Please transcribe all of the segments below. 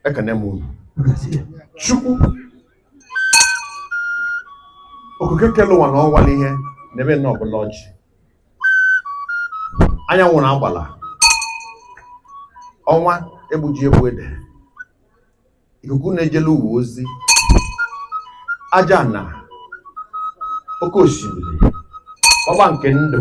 ekene m unu chukwu okike kele ụwa na ọnwa n'ihe n'ebe nọ ọbụla ọjị anyanwụ na agbala ọnwa egbuji egbu ede ikuku na-ejele ụwa ozi aja ana oke osimiri ọgba nke ndụ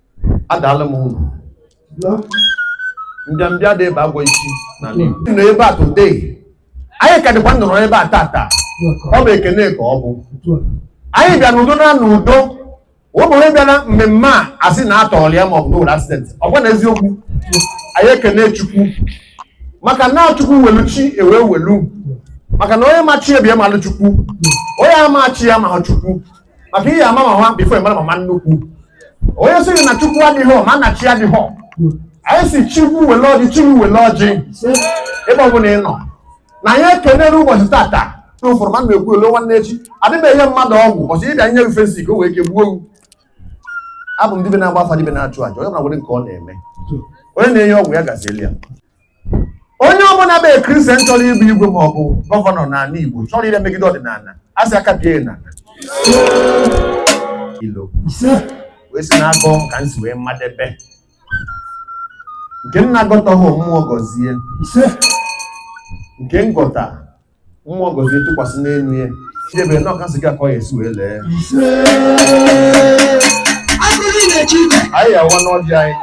adaalụ m unu mbịambịa dị ebe agwụ isi na nọ ebe a today anyị ka dịkwa nọrọ ebe a tata ọ bụ ekene ka ọ bụ anyị bịa n'udo naa n'udo ụmụnwe bịa na mmemme a asị na atọrọ ya maọbụ na o nwelu accident ọ kwa na eziokwu anyị ekene chukwu maka na chukwu welu chi ewe welu maka na onye ma chi ebie malụ chukwu onye ama chi ya ama chukwu maka ị ya-ama mama before ị mara mama nnukwu onye sịrị na chukwu adịghị ma na chi adịghị anyị sị chukwu wele ọjị chukwu wele ọjị ebe ọ bụla ị nọ na anyị ekelere ụbọchị tata n'ụfọdụ mmadụ na-ekwu elo nwanne echi adịghị enye mmadụ ọgwụ ọ sị dibịa nye ife sị ka o wee ke gbuo owu abụ m dibịa na-agba afa dibịa na-achụ aja onye ọbụla nwere nke ọ na-eme onye na-enye ọgwụ ya gazieli ya onye ọbụla bụ kristian chọrọ ịbụ igwe ma ọ bụ gọvanọ n'ala Igbo chọrọ ire megide ọdịnala a sị aka bie na ilo wee si n'akọ ka m si wee madebe nke m na-agọtaghị mmụọ gọzie nke m gọta mmụọ gọzie tụkwasị n'elu ya idebe na ọkasị gị akọ ya esi wee lee anyị awa n'ọdị anyị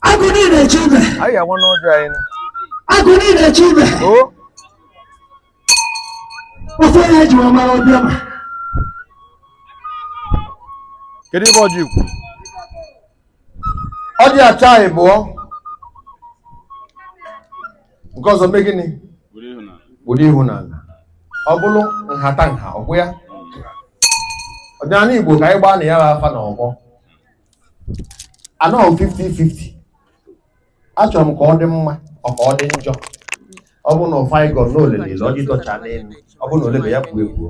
agụ na-eche ibe anyị ga-agwa n'ụjọ anyị na agụ na-eche ibe o ofe onye eji wee mara ọbịa ma kedu ebe ọjị kwuru ọjị acha anyị bụọ nke ọzọ mee gịnị bụrụ ịhụnanya ọ bụrụ nhata nha ọ bụ ya ọdịnala igbo ka anyị gbaa na ya bụ afa na ọgbọ anọghị m 50-50 achọrọ m ka ọ dị mma ọ ka ọ dị njọ ọ bụrụ na ife anyị gọrọ na o lele ile ọjị dọcha n'elu ọ bụ na o lebe ya kpuo ekpuo